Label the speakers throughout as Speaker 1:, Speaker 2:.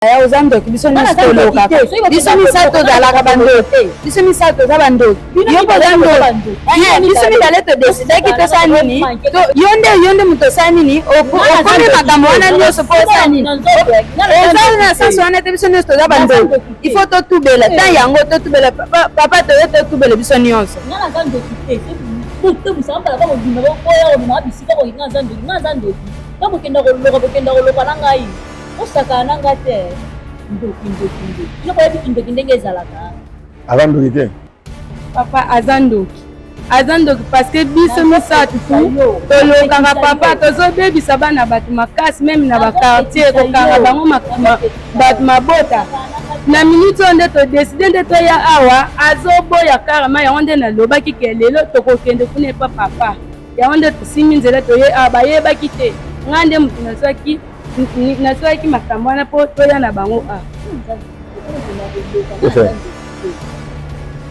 Speaker 1: yaya oza ndoki biso nyonso tolokaka biso misato tozalaka bandoki biso misato toza bandoki yo mpe oza ndoki eh, biso mibale todesidaki tosala nini yo nde yo nde moto osala nini okomi makambo wana nyonso mpo osala nini oza na sansi wana te biso nyonso toza bandoki il faut totubela eh. tan yango totubela papa toye totubela biso nyonso
Speaker 2: kokenda koloka kokenda koloka na ngai osakana na nga te ndoki ndoki ndoki yo boyebi kindoki ndenge ezalaka aza ndoki te
Speaker 3: papa
Speaker 1: aza ndoki aza ndoki parceke biso misato tolokaka papa tozobebisa bana bato makasi meme na bakartier kokanga bango bato mabota na miniti oyo nde todeside nde toya awa azoboya karama yango nde nalobaki ke lelo tokokende kuna epa papa yango nde tosimbi nzela toye awa bayebaki te ngai nde moto nazwaki nasalaki makambo wana mpo toya na bango a ah.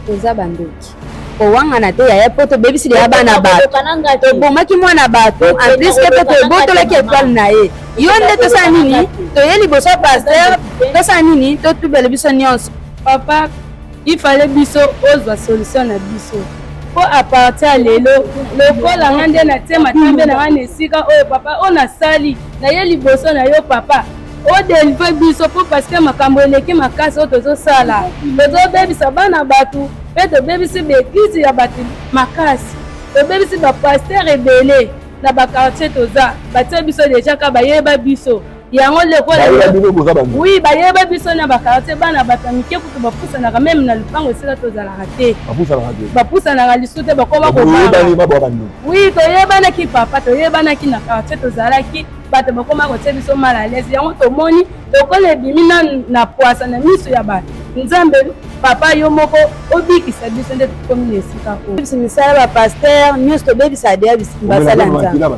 Speaker 1: toza bandoki kowangana te yaya mpo tobebisi leya bana bato tobomaki mwana bato amplis mpe tobotolaki etwale na ye yo nde tosala nini toye liboso ya paster tosala nini totubela biso nyonso papa Il fallait biso ozwa solution na biso po à partir ya lelo lokola nga nde natie matambe na nga na esika oyo papa oyo nasali naye liboso na yo papa odelivre biso po parce que makambo eleki makasi oyo tozosala tozobebisa bana bato mpe tobebisi baeglize ya bato makasi tobebisi bapaster ebele na bakartier toza batie biso deja ka bayeba biso yango lokola oui bayeba biso na bakartier bana bato ya mike kutu bapusanaka meme na lupango esika tozalaka te bapusanaka lisusu te bakoma kobaa oui toyebanaki papa toyebanaki na kartier tozalaki bato bakoma kotia biso mal à l'aise yango tomoni lokola ebimi na pwasa na miso ya bato nzambe papa yo moko obikisa biso nde tokomi na esika oyo misala bapaster nyonso tobebisa deya basala nzambe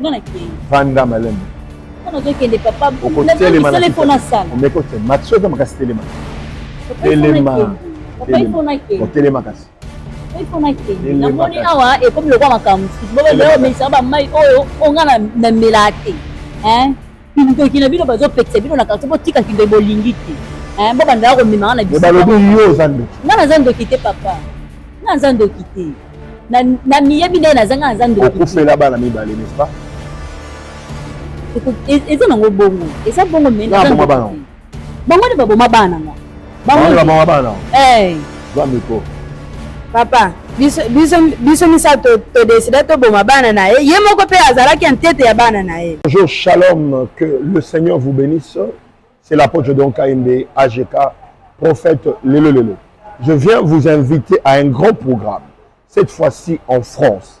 Speaker 3: nga nakei vanda malembe nga nazokende
Speaker 2: papa okotelema na ifo nasala omeki otelema
Speaker 3: matso eza makasi telema telema otelema kasi
Speaker 2: namoni awa ekomi lokwa makambo mosusu bobeomesaka bamai oyo onga na melaa te Kindoki na bino bazo pekisa bino na quartier botika kindoki bolingi te. Eh bo banda ko mema na biso. Balobi yo za ndoki. Nga na za ndoki te papa. Nga na za ndoki te. Na na miyebi na na za nga na za ndoki. Okufela bana mibale
Speaker 3: n'est-ce pas? E,
Speaker 2: eza nango bongo. Eza bongo mais na za ndoki. Bango nde baboma bana nga. Bango nde baboma bana. Eh. Zwa miko.
Speaker 1: Papa, biso biso biso misato to décida to boma bana na ye. Ye moko pe azalaki entete ya bana na ye. Bonjour, shalom,
Speaker 3: que le Seigneur vous bénisse. C'est l'apôtre Don Kainde AGK, prophète Lelo Lelo. Je viens vous inviter à un grand programme, cette fois-ci en France.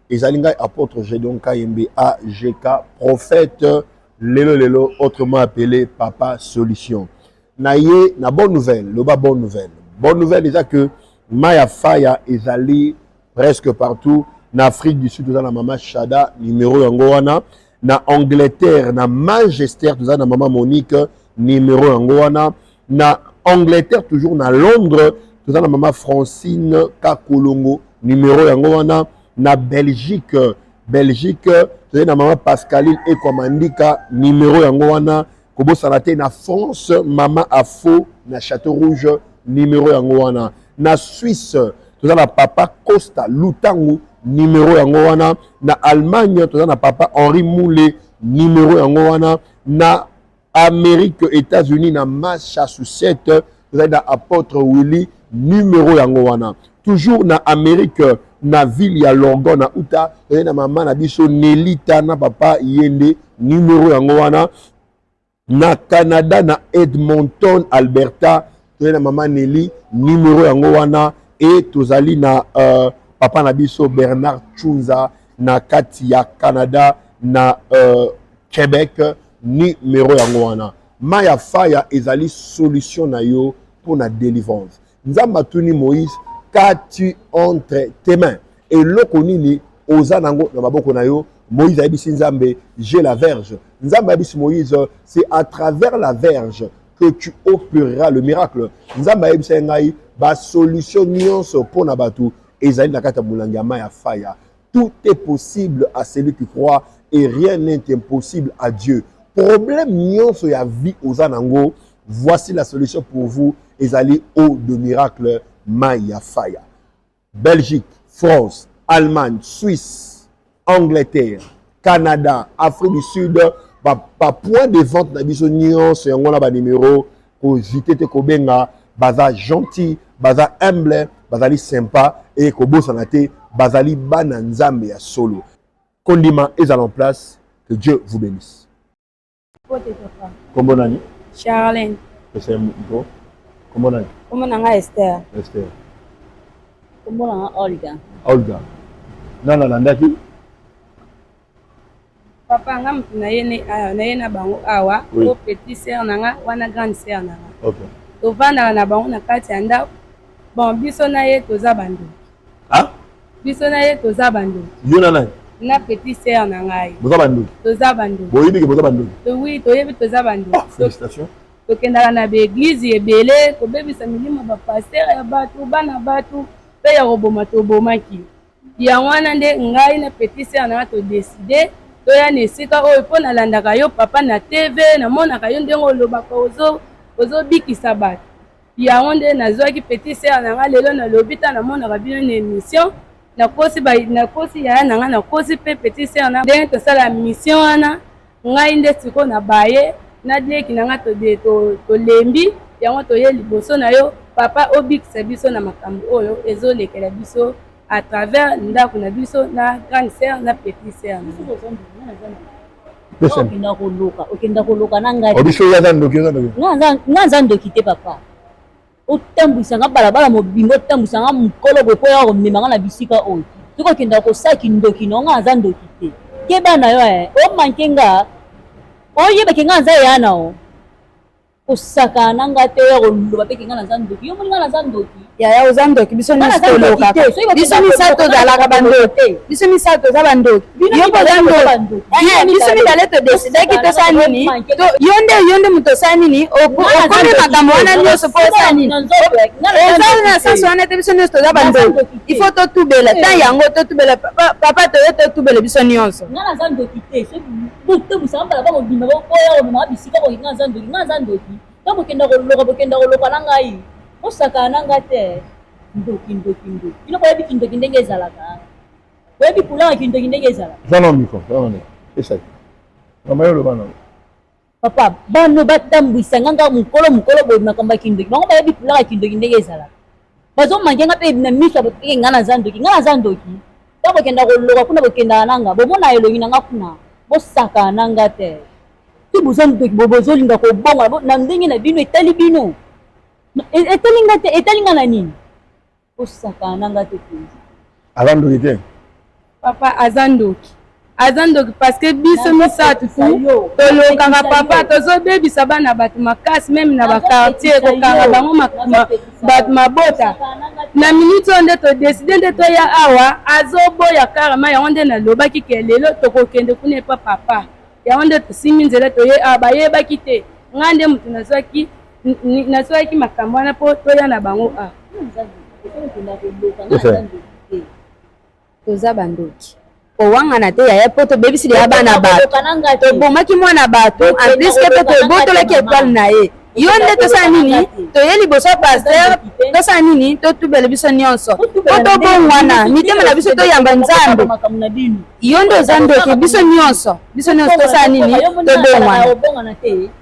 Speaker 3: Ezali ngai apotre Gedeon Kayembe AGK prophète lelo lelo autrement appelé papa solution. Na ye na bonne nouvelle, loba bonne nouvelle. Bonne nouvelle eza que Maya Faya ezali presque partout na Afrique du Sud oza na mama Shada numéro yango wana na angleterre na manchester toza na mama monique numero yango wana na angleterre toujours na londres toza na mama francine kakolongo numero yango wana na belgique belgique tozali na mama pascaline ekwamandika numero yango wana Kobosana te na France mama afo na chateau rouge numero yango wana na Suisse toza na papa Costa Lutangu numero yango wana na Allemagne toza na papa Henri Moule numero yango wana na Amérique États-Unis na Massachusetts ezali na apotre willy numero yango wana toujours na amérique na ville ya lorgon na uta ezali na mama na biso nelita na papa ye nde numero yango wana na canada na edmonton alberta tozali na mama neli numero yango wana e tozali na uh, papa na biso bernard chunza na kati ya canada na uh, québec numero yango wana Mai ya faya ezali solution na yo mpo na delivrance. Nzambe atuni Moïse, qu'as-tu entre tes mains? Eloko nini oza nango na maboko na yo? Moïse ayebisi Nzambe, j'ai la verge. Nzambe ayebisi Moïse, c'est à travers la verge que tu opéreras le miracle. Nzambe ayebisa ye ngai ba solution nyonso mpo na bato ezali na kati ya molangi ya mai ya faya. Tout est possible à celui qui croit et rien n'est impossible à Dieu. Problème nionso ya vie oza nango, voici la solution pour vous ezali eau de miracle mayi ya faya. Belgique, France, Allemagne, Suisse, Angleterre, Canada, Afrique du Sud, ba, ba points de vente na biso nionso yango na ba numero kozite te kobenga baza gentil baza humble bazali sympa eye kobosana te bazali bana nzambe ya solo kondima ezala en place que dieu vous bénisse kombo nani charlin
Speaker 1: ese mpo
Speaker 3: kombo nani kombo na nga ester
Speaker 1: ester
Speaker 2: kombo na nga olga
Speaker 3: olga nani alandaki
Speaker 1: papa nga mutu naye ah, naye na bango awa ah, oui. o petit sœur na nga wana grande sœur na nga okay. tovandaka
Speaker 3: na bango
Speaker 1: na kati ya ndako bon biso na ye toza bandoki ah?
Speaker 3: biso na ye
Speaker 1: toza bandoki yo na nani
Speaker 3: na petit sœur
Speaker 1: na ngai boza bandoki toza
Speaker 3: bandoki boyebi
Speaker 1: ke boza bandoki
Speaker 3: oui toyebi toza
Speaker 1: bandoki ah, félicitations
Speaker 3: tokendaka na
Speaker 1: baeglize ebele kobebisa milimo bapaster ya bato bana bato mpe ya koboma tobomaki Yango wana nde ngai na petit sœur na nga to decider toya na esika oyo po na landaka yo papa na TV, na monaka yo ndenge olobaka ozo ozo bikisa batu. Yango nde na zuaki petit sœur na nga lelo na lobi tango na monaka bino na emission na kosi ba na kosi yaya na nga na kosi pe petit sœur na nga ndenge tosala mission wana Ngai nde sikoyo na baye na leki na nga to de to tolembi yango toye liboso na yo papa obikisa biso na makambo oyo ezo lekela biso à travers ndaku na biso na grande sœur na petit sœur na nga. okenda
Speaker 2: koloka okenda koloka na ngai
Speaker 3: nga naza
Speaker 2: ndoki te papa otambwisa nga balabala mobimba otambwisa nga mokolo boye mpo yaka komema nga na bisika oyo soki okendaka kosala kindoki na nga aza ndoki te keba na yo eh, omanke nga oyebake nga aza yana o kosakana na nga te oya koloba mpe ke nga naza ndoki yo moni nga naza ndoki yaya oza ndoki biso nyonso tolokaka biso misato tozalaka bandoki biso misato toza bandoki yo mpoza ndoki eh, biso mibale todesidaki tosala nini yo nde yo nde moto osala nini okomi makambo wana nyonso mpo osala nini eza na sansi wana te biso nyonso toza bandoki il faut totubela ta eh. yango totubela papa toye totubela biso nyonso to bokenda koloka bokenda koloka na ngai osakana na ngai te ndoki ndoki ndoki bino boyebi kindoki ndenge ezalaka Oyebi couleur ya kindoki ndenge ezala? Zana miko,
Speaker 3: zana miko. Esa. Mama yo loba nango. Papa,
Speaker 2: bano batambwisa nga nga mokolo mokolo boye makambo ya kindoki. Bango bayebi couleur ya kindoki ndenge ezala. Bazo manke nga pe na miso ya nga na zandoki, nga na zandoki. Ba kokenda koloka kuna bokendaka na nga, bomona elongi na nga kuna, bosaka na nga te. Ti boza ndoki, bozolinga kobonga na ndenge na bino, etali bino. E, etali nga te, etali nga na nini? osakana na nga te penza aza ndoki te
Speaker 3: papa
Speaker 1: aza ndoki aza ndoki parceke biso misato tolokaka papa tozobebisa bana bato makasi meme na bakartier kokanga bango bato mabota na miniti oyo nde todeside nde toya awa azoboya karama yango nde nalobaki ke lelo tokokende kuna epa papa yango nde tosimbi nzela toye awa bayebaki te ngai nde moto nazwaki nasoyaki makambo wana mpo toya na bango a toza bandoki kowangana te yaya mpo tobebisi deya bana bato tobomaki mwana bato en plus ke mpe tobotolaki etoile na ye yo nde tosala nini toye liboso ya paster tosala nini totubela biso nyonso po tobongwana mitema na biso toyamba nzambe yo nde oza ndoki biso nyonso biso nyonso tosala nini tobongwana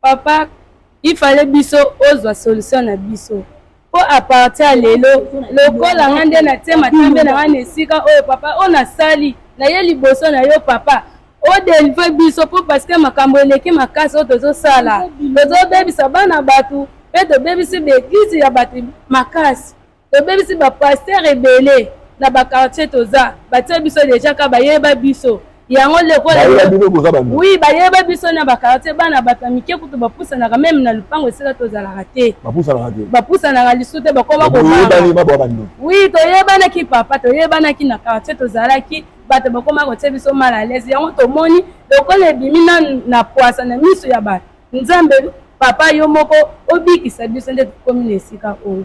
Speaker 1: Papa il fallait biso ozwa solution na biso po a partir ya lelo lokola nga nde natie matambe na nga na esika oyo papa oyo nasali naye liboso na yo papa o delivre biso po parce que makambo eleki makasi oyo tozosala tozobebisa bana batu pe tobebisi ba eglise ya batu makasi Tobebisi ba pasteur ebele na ba quartier toza batie biso deja ka bayeba biso yango lokola oui bayeba biso na ba quartier bana bato ya mike kutu bapusanaka meme na lupango esika tozalaka te bapusanaka lisusu te bakoma kobanga oui toyebanaki papa toyebanaki na quartier tozalaki bato bakoma kotie biso mal à l'aise yango tomoni lokola ebimi na pwasa na miso ya bato nzambe papa yo moko obikisa biso nde tokomi na esika oyo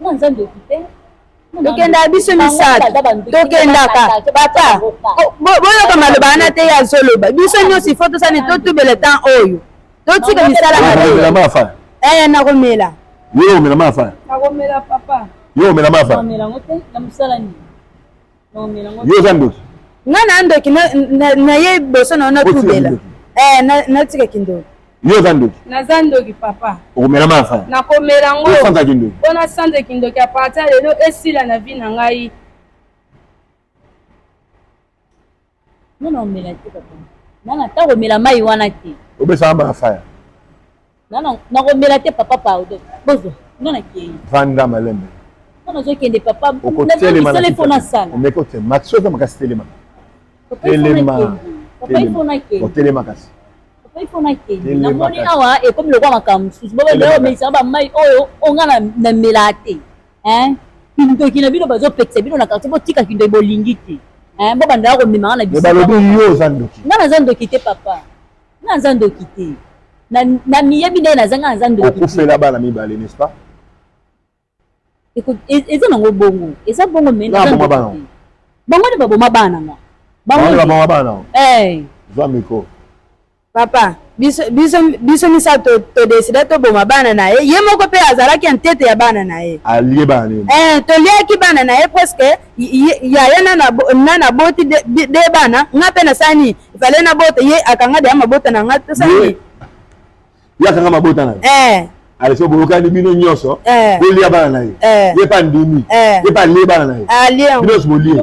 Speaker 2: Mwa nzambe ekipe. tokendaka
Speaker 1: biso misato tokendaka papa boyoka maloba wana te ye azoloba biso nyonso ifo tosani totubela temps oyo totika misala mabe nakomela yo omela mafa nakomela papa yo omela mafa
Speaker 3: nakomela
Speaker 1: yango te na mosala
Speaker 3: nini yo oza ndoki nga na ndoki
Speaker 1: na ye boso na yo natubela eh, natika kindoki yo oza ndoki
Speaker 3: naza ndoki papa
Speaker 1: okomela ma fa
Speaker 3: nakomela yango osanza
Speaker 1: kindoki mpo nasanza
Speaker 3: kindoki
Speaker 1: apartir lelo esila na vi na ngai
Speaker 2: Non non omela te papa. Nana ta komela mai wana te. Obesa amba na faya.
Speaker 3: Nana
Speaker 2: na komela te papa pardon. Bozo nana kei. Vanda malembe.
Speaker 3: Nana zo kende
Speaker 2: papa. Okotelema na telefona
Speaker 3: sala. Omeko
Speaker 2: te maxi oza
Speaker 3: makasi telema. Telema. Papa ifo na kei. Otelema kasi. Papa
Speaker 2: ifo na kei. Na moni awa ekomi lokwa makambo mosusu. Bobo leo meisa ba mai oyo onga na mela te. hein kindoki na bino bazo pekisa bino na quartier botika kindoki bolingi te hein bo bandaka komemaka na biso balobi yo oza
Speaker 3: ndoki nga naza ndoki te papa
Speaker 2: nga naza ndoki te na miyebi ndenge naza nga naza ndoki okufela bana mibale
Speaker 3: n'est-ce pas e,
Speaker 2: eza nango bongo eza bongo me bango nde baboma bana nga bango nde baboma bana
Speaker 3: eh. zwa mikro Papa,
Speaker 1: biso, biso, biso misato todesida toboma bana na ye, ye moko mpe azalaki entete ya bana na ye. Alie bana nini? Eh,
Speaker 3: toliaki bana
Speaker 1: na ye preske yaya na naboti de, de, de bana nga mpe nasani ifale nabota ye akanga deya mabota na nga tosani
Speaker 3: ye akanga mabota na ye eh. alese boyokani bino nyonso eh. bolia bana na ye eh. ye mpe andimi ye mpe alie bana na ye bino nyonso bolie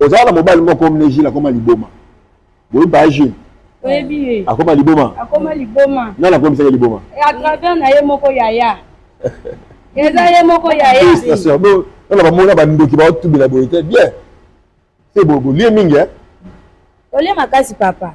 Speaker 2: ozala
Speaker 3: na mobali moko mne jile akoma liboma boyebi baya jile oyebi ye
Speaker 1: akoma liboma
Speaker 3: akoma liboma
Speaker 1: nani akomisaki liboma
Speaker 3: à travers na ye
Speaker 1: moko yaya eza ye moko yaya
Speaker 3: nana bamona bandoki baotubela boye te bien se bolie mingi olie
Speaker 1: makasi papa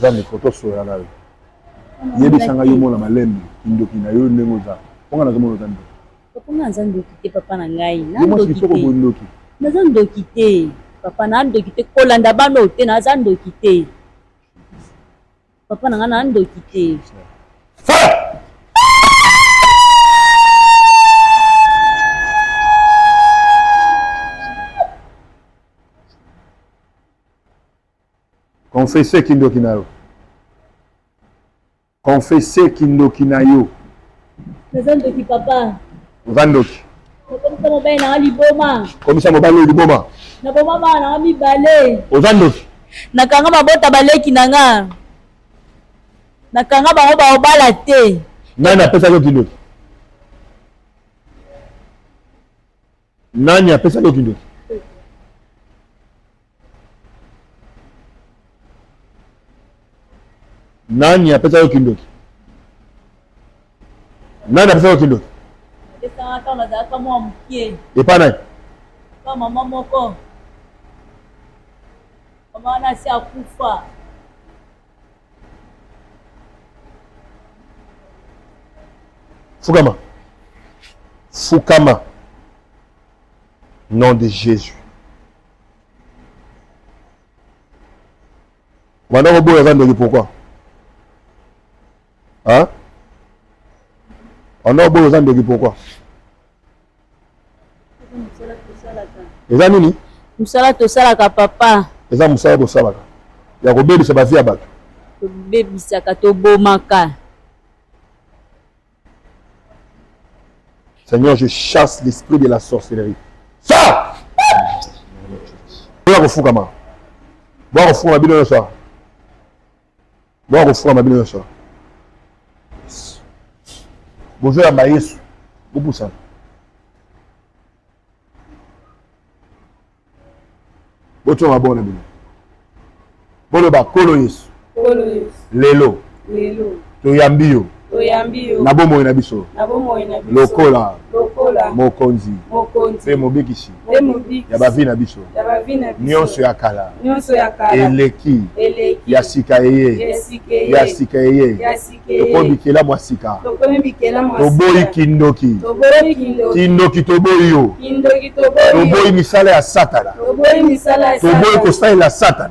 Speaker 3: Zambe foto soya nayo. Yebisa nga yo mona malembe kindoki na yo ndenge oza. Ponga nazo mona zambe. Papa nga naza ndoki
Speaker 2: te papa na ngai. Na ndoki te. Yo
Speaker 3: ndoki. Naza ndoki
Speaker 2: te. Papa na ndoki te kolanda bano te naza ndoki te. Papa na nga na ndoki te.
Speaker 3: Confesse kindoki na yo. Confesse kindoki na yo. Naza
Speaker 2: ndoki papa. Oza ndoki.
Speaker 3: Nakomisa
Speaker 2: mobali na nga liboma. Komisa mobali liboma.
Speaker 3: Naboma bana na
Speaker 2: nga mibale. Oza ndoki.
Speaker 3: Nakanga mabota
Speaker 2: baleki na nga. Nakanga bango baobala te. Nani apesaki yo
Speaker 3: kindoki? nani apesaki yo kindoki nani apesa yo kindoki
Speaker 2: nani apesa yo kindoki epa nani
Speaker 3: mama
Speaker 2: moko mama nasi akufa
Speaker 3: Fukama. Fukama. Nom de Jésus. Banda koboya eza ndenge pourquoi hein? Banda koboya eza ndenge pourquoi eza nini mosala tosalaka
Speaker 2: papa eza mosala tosalaka
Speaker 3: ya kobebisa bavi ya bato tobebisaka
Speaker 2: tobomaka
Speaker 3: seigneur je chasse l'esprit de la sorcellerie ça boya kofukama boya kofukama bino nyonso boa kofukama bino nyonso bozoyamba yesu bopusana botyoma maboko na bino boloba nkolo yesu lelo toyambi yo na bomoi na biso lokola mokonzi mpe mobikisi ya bavi na biso nyonso ya kala eleki ya sika eye ya sika eye tokomi bikela mwa sika toboyi kindoki kindoki toboyi yo toboyi misala ya satana toboyi kosalela satana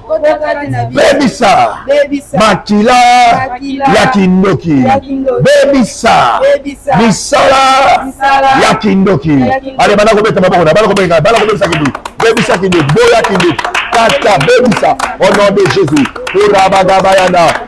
Speaker 3: bebisa makila ya kindoki bebisa misala ya kindoki ale bana kobeta maboko na bana kobeta bana kobebisa kindoki bebisa kindoki boya kindoki kata bebisa au nom de jésus orabagabayana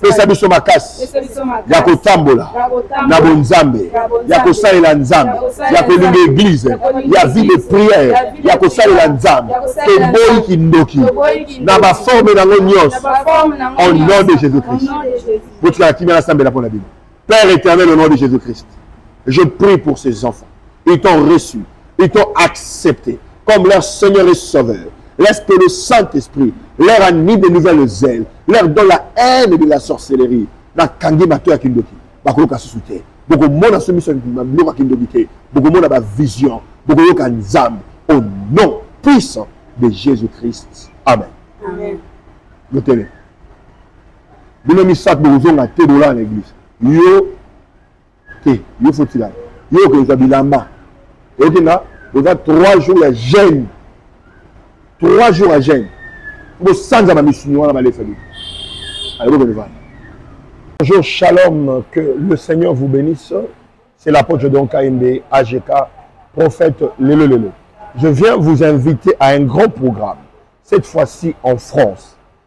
Speaker 3: pesa biso makasi ya kotambola na bonzambe ya kosalela nzambe ya kolinga eglize ya vie de prière ya kosalela nzambe toboyi kindoki na baforme nango nyonso au nom de jésus christ botikala kimia nasambela mpo na bino Père éternel, au nom de Jésus-Christ, je prie pour ces enfants. Ils t'ont reçu, ils t'ont accepté comme leur Seigneur et Sauveur. Laisse que le Saint-Esprit leur anime de nouvelles ailes, leur donne la haine de la sorcellerie. nakangi bato ya kindoki bakoyoka susu te bokomona so miso biloko ya kindoki te bokomona bavision bokoyoka nzambe au nom puissant de jésus christ amen,
Speaker 1: amen.
Speaker 3: bino misato bokozonga te bolala na eglise yo te yo fotila yo okozwa bilamba oyoki nga oza trois jours ya jeune trois jours ya jeune bosanza na misuni wana balefa bino alebokondevana bonjour shalom que le seigneur vous bénisse c'est l'apôtre don kaimbe agk prophète lelo lelo je viens vous inviter à un grand programme cette fois-ci en france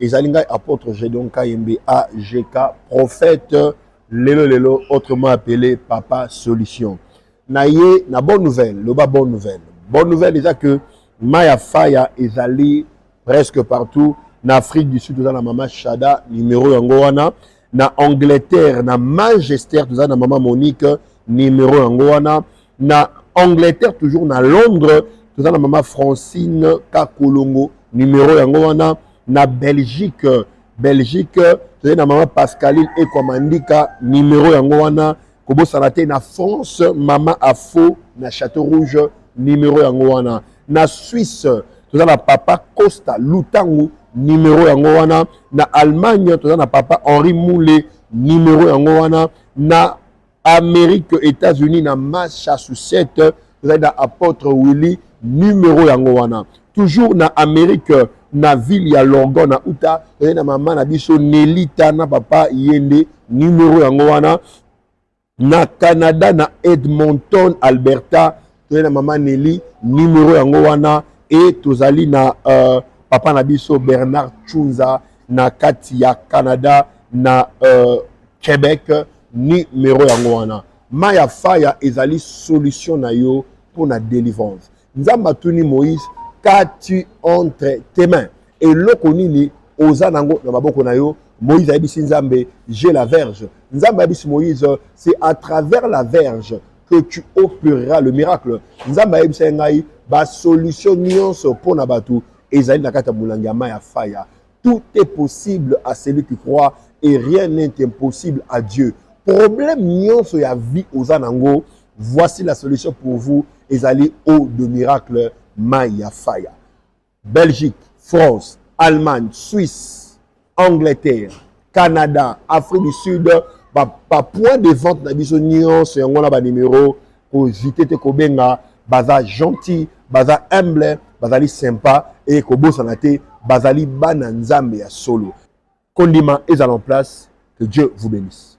Speaker 3: ezali ngai apôtre Gedeon Kayembe AGK prophète lelo lelo autrement appelé papa solution na ye na bonne nouvelle loba bonne nouvelle bonne nouvelle eza que mai ya faya ezali presque partout na Afrique du Sud toza na mama Shada numéro yango wana na Angleterre na Manchester toza na mama Monique numéro yango wana na angleterre toujours na londres toza na mama francine kakolongo numero yango wana na belgique belgique tozali na mama pascaline ekwa mandika numero yango wana kobosana te na france mama afo na château rouge numero yango wana na suisse toza na papa costa lutangu numero yango wana na allemagne toza na papa henri mule numero yango wana na Amerique Etats-Unis na Massachusetts ezali na Apotre Willy numero yango wana. Toujours na Amerique na ville ya Lorgon na Utah ezali na mama na biso Nelita na papa Yende numero yango wana. Na Canada na Edmonton Alberta toye na mama Nelly numero yango wana e tozali na uh, papa na biso Bernard Chunza na kati ya Canada na uh, Quebec numero yango wana mai ya faya ezali solution na yo mpo na délivrance nzambe atuni moïse qu'as-tu entre tes mains eloko nini oza nango na maboko na yo moïse ayebisi nzambe je la verge nzambe ayebisi moïse c'est à travers la verge que tu opereras le miracle nzambe ayebisaki ngai basolution nyonso mpo na bato ezali na kati ya molangi ya mai ya faya tout est possible à celui qui croit et rien n'est impossible à dieu problème nyonso ya vie oza nango voici la solution pour vous ezali eau de miracle mai ya faya Belgique, France, Allemagne, Suisse, Angleterre, Canada, Afrique du Sud, ba, ba points de vente na biso nyonso yango na ba numéro kozite te kobenga baza gentil baza humble bazali sympa e kobosana te bazali bana nzambe ya solo kondima ezala en place que dieu vous bénisse